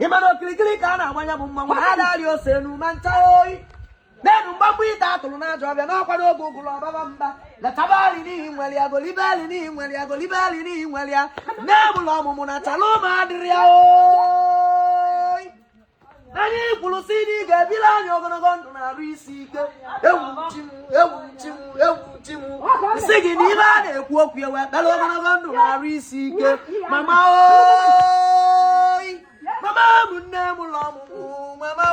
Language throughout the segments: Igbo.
ị ma na okirikiri ka a na-agbanya bụ mmanwụ adị arị ose enu ma ncha oyi n'enu mgbagbu ite atụrụ n'ajọ ọbịa n'ọkwa n'oge ụgụrụ ọbaba mba letaba ali n'ihi nwere ya golibe ali n'ihi nwere ya golibe ali n'ihi nwere ya nne bụla ọmụmụ na chala ụmụ adịrị ya oyi anyị kwuru sị na ị ga-ebili anyị ogologo ndụ na arụ isi ike ewu chi m ewu chi m ewu m sị gị na ihe a na-ekwu okwu ya wee kpere ogologo ndụ na arụ isi ike mama oyi mama m nne mụlụ ọmụmụ mama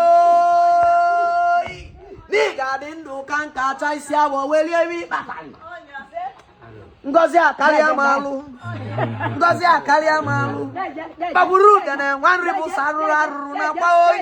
oyi na ị ga-adị ndụ kaa nka chaa isi awọ wee lie ihe ị kpata ngozi akarịa m alụ ngozi akarịa m alụ kpagburu udene nwa nri bụ sọ arụrụ arụrụ na akwa oyi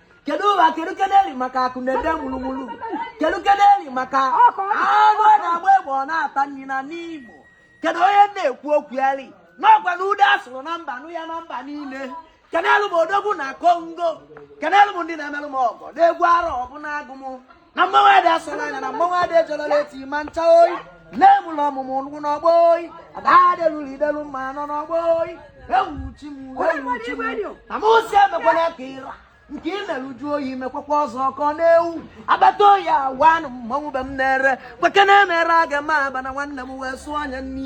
kedu ụwa kedu keneri maka akụ na-ede mulumulu kedu keneri maka anụ a na-agba egbe ọ na-ata nri na Nimo kedu onye na-ekwu okwu eri n'ọgwa na ude asụrụ na mba nụ ya na mba niile kenelu m odogwu na Congo kenelu m ndị na-emelụ m ọgọ n'egwu arọ ọbụna agụ m na mmanwụ adị asọla anya na mmanwụ adị ejọlọla eti ma ncha oyi nne mụlụ ọmụmụ nkwụ n'ọgbọ oyi ada adeluru idelu mma nọ n'ọgbọ oyi ewu chi m ewu chi m na m si emekwana ka ịra nke ị mere uju oyi mekwakwa ọzọ ọkọ na-ewu agbata oyi awanụ mmanwụ be m na-ere kweke na-emere aga m aba na nwanne m wee sụọ anya nri